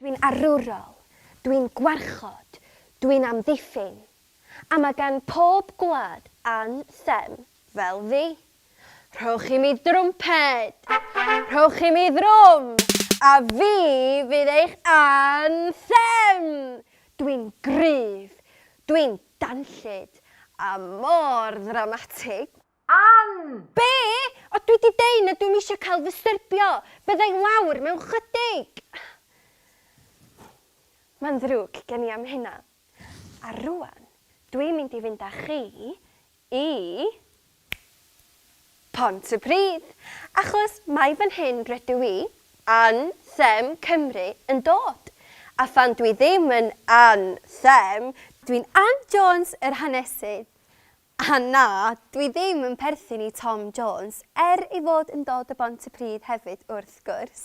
Dwi'n arwrol, dwi'n gwarchod, dwi'n amddiffyn, a mae gan pob gwlad an them fel fi. Rhowch i mi drwmped! Rhowch i mi ddrwm! A fi fydd eich an them! Dwi'n gryf, dwi'n danllyd, a mor ddramatig! Ann! Be? O dwi di deu na dwim isio cael fy styrbio! Bydda i lawr mewn chydig! Mae'n ddrwg gen i am hynna. A rwan dwi'n mynd i fynd â chi i Pontypridd achos mai fan hyn rydw i, Ann Them Cymru, yn dod. A phan dwi ddim yn Ann Them, dwi'n Ann Jones yr hanesydd. A na, dwi ddim yn perthyn i Tom Jones, er ei fod yn dod o Bontypridd hefyd wrth gwrs.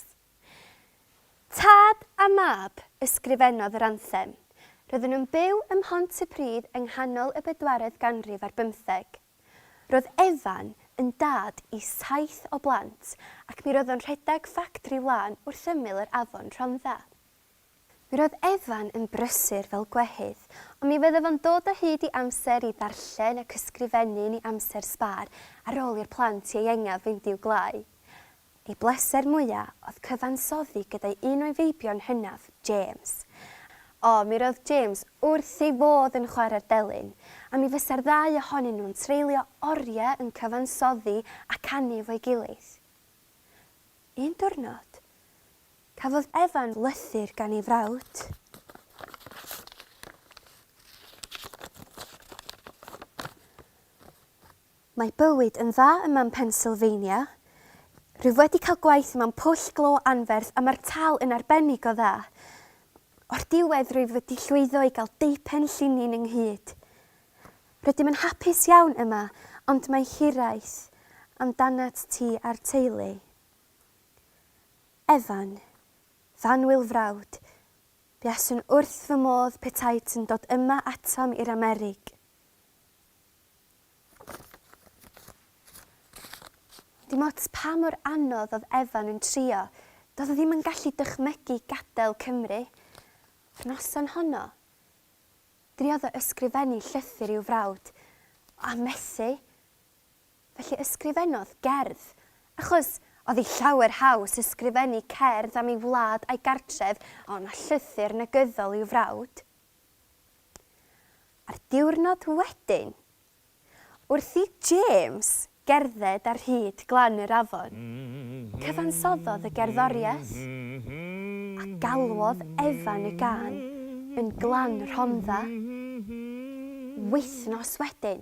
Tad a mab ysgrifennodd yr anthem. Roedden nhw'n byw ym Mhontypridd yng nghanol y bedwaredd ganrif ar bymtheg. Roedd Evan yn dad i saith o blant ac mi roedd o'n rhedeg ffactri wlân wrth ymyl yr afon Rhondda. Mi roedd Evan yn brysur fel gwehydd, ond mi fyddaf yn dod o hyd i amser i ddarllen ac ysgrifennu yn ei amser sbâr ar ôl i'r plant ieuengaf fynd i'w gwlâu. Ei bleser mwya' oedd cyfansoddi gyda'i un o'i feibion hynaf, James. O, mi roedd James wrth ei fodd yn chwarae'r delyn, a mi fysa'r ddau ohonyn nhw'n treulio oriau yn cyfansoddi a canu efo'i gilydd. Un diwrnod, Cafodd Evan lythyr gan ei frawd. Mae bywyd yn dda yma yn Pennsylvania. Rwyf wedi cael gwaith yma yn Pwll Glo anferth a mae'r tâl yn arbennig o dda. O'r diwedd rwyf wedi llwyddo i gael deupen llinyn ynghyd. Rydym yn hapus iawn yma ond mae hiraeth amdanat ti a'r teulu. Evan, Fan Wil Frawd, buaswn wrth fy modd petait yn dod yma atom i'r Amerig. Dim ots pa mor anodd oedd Evan yn trio, doedd o ddim yn gallu dychmygu gadael Cymru. Yr noson honno, driodd o ysgrifennu llythyr i'w frawd, a methu. Felly ysgrifennodd gerdd, achos oedd hi llawer haws ysgrifennu cerdd am ei wlad a'i gartref ond na llythyr negyddol i'w frawd. A'r diwrnod wedyn, wrth i James gerdded ar hyd glan yr afon, cyfansoddodd y gerddoriaeth, a galwodd Evan y gân yn Glan Rhondda. Wythnos wedyn,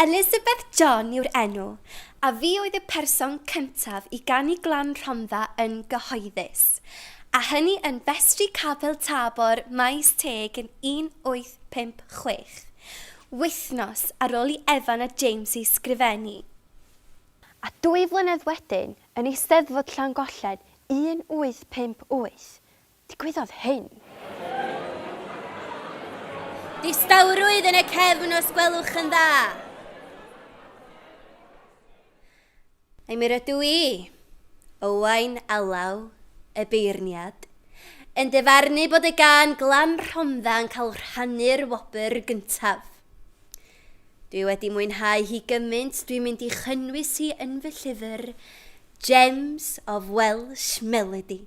Elizabeth John yw'r enw, a fi oedd y person cyntaf i ganu Glan Rhondda yn gyhoeddus, a hynny yn Festri Capel Tabor, Maes Teg yn 1856, wythnos ar ôl i Evan a James ei sgrifennu. A dwy flynedd wedyn, yn Eisteddfod Llangollen 1858, Digwyddodd hyn. Distawrwydd yn y cefn os gwelwch yn dda. Ai mi rydw i, Owain Alaw, y beirniad, yn dyfarnu bod y gân glam Rhondda yn cael rhannu'r wobr gyntaf? Dwi wedi mwynhau hi gymaint dwi'n mynd i chynnwys hi yn fy llyfr Gems of Welsh Melody.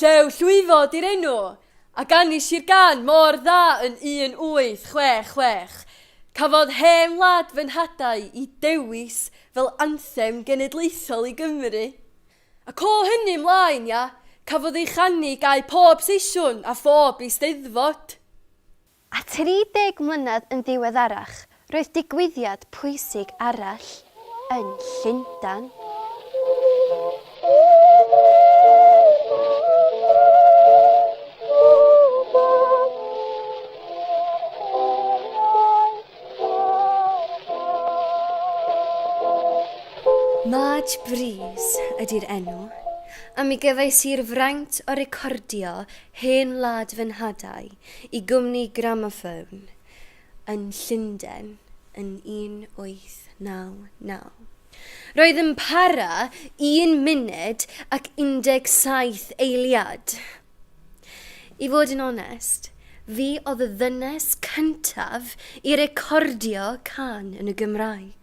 Llew llwyfo di'r enw, a ganis i'r gân mor dda yn 1866. Cafodd Hen Wlad fy Nhadau i dewis fel anthem genedlaethol i Gymru. Ac o hynny 'mlaen, ia, cafodd ei chanu gau pob seisiwn a phob Eisteddfod. A 30 mlynedd yn ddiweddarach, roedd digwyddiad pwysig arall yn Llundain. Madge Brees ydy'r enw, a mi gefais i'r fraint o recordio hen wlad fy nhad-au Y gwmni Gramophone yn Llundain yn 1899. Roedd yn para un munud ac 17 eiliad. I fod yn onest, fi oedd y ddynes cyntaf i recordio cân yn y Gymraeg.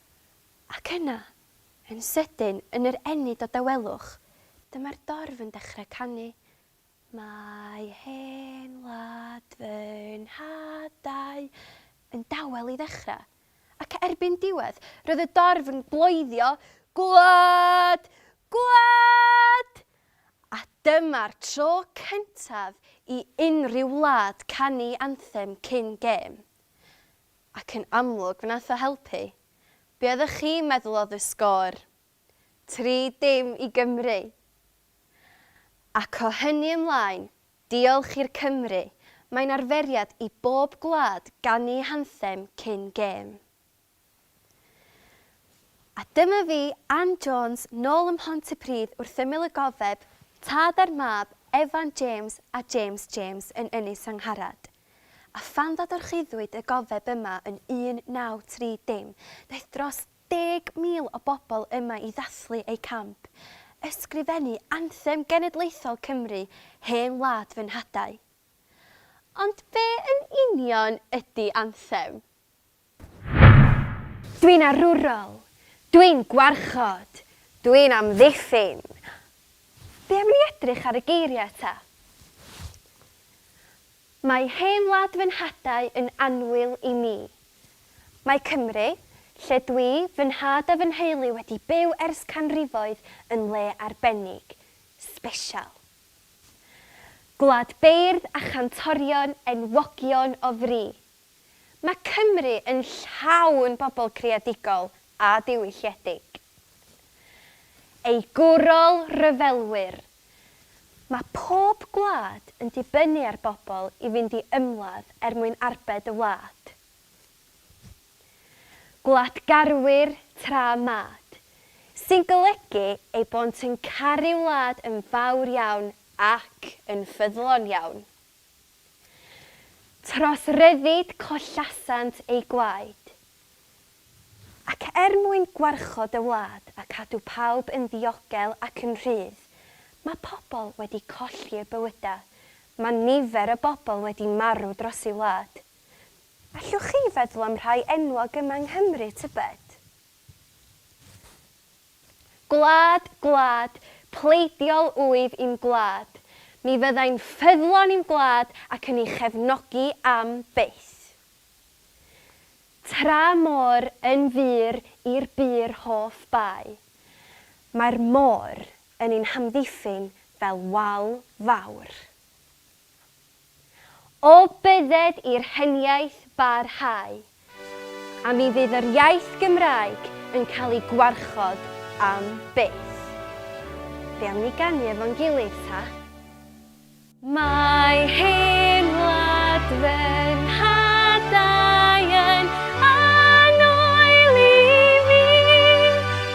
Ac yna, yn sydyn, yn yr ennyd o dawelwch, dyma'r dorf yn dechrau canu. Mae hen wlad fy nhadau yn dawel i ddechrau. Ac erbyn diwedd, roedd y dorf yn bloeddio, Gwlad! Gwlad! A dyma'r tro cyntaf i unrhyw wlad canu anthem cyn gêm. Ac yn amlwg fe nath o helpu. Be oeddech chi'n meddwl oedd y sgôr? Tri dim i Gymru! Ac o hynny ymlaen, diolch i'r Cymry, mae'n arferiad i bob gwlad ganu hanthem cyn gêm. A dyma fi, Ann Jones, nôl ym Mhontypridd wrth ymyl y gofeb, tad a'r mab, Evan James a James James yn Ynys Angharad. A phan ddadorchuddiwyd y gofeb yma yn 1930, daeth dros 10,000 o bobl yma i ddathlu eu camp, ysgrifennu anthem genedlaethol Cymru, Hen Wlad fy Nhadau. Ond be yn union ydi anthem? Dwi'n arwrol! Dwi'n gwarchod! Dwi'n amddiffyn! Be am ni edrych ar y geiriau eto? Mae hen wlad fy nhadau yn annwyl i mi. Mae Cymru, lle dwi, fy nhad a fy nheulu wedi byw ers canrifoedd yn le arbennig, sbesial. Gwlad beirdd a chantorion enwogion o fri. Mae Cymru yn llawn bobl creadigol a diwylliedig. Ei gwrol ryfelwyr. Mae pob gwlad yn dibynnu ar bobl i fynd i ymladd er mwyn arbed y wlad. Gwladgarwyr tra mad. Sy'n golygu eu bod yn caru wlad yn fawr iawn ac yn ffyddlon iawn. Tros ryddid collasant eu gwaed. Ac er mwyn gwarchod y wlad a cadw pawb yn ddiogel ac yn rhydd, mae pobl wedi colli eu bywydau, mae nifer y bobl wedi marw dros ei wlad. Allwch chi feddwl am rhai enwog yma yng Nghymru, tybed? Gwlad, gwlad, pleidiol wyf i'm gwlad, mi fyddai'n ffyddlon i'm gwlad ac yn ei chefnogi am byth. Tra môr yn fur i'r bur hoff bai, mae'r môr yn ein hamddiffyn fel wal fawr. O bydded i'r heniaith barhau, a mi fydd yr iaith Gymraeg yn cael ei gwarchod am byth. Be am ni ganu efo'n gilydd ta? Mae hen wlad fy nhadau yn annwyl i mi.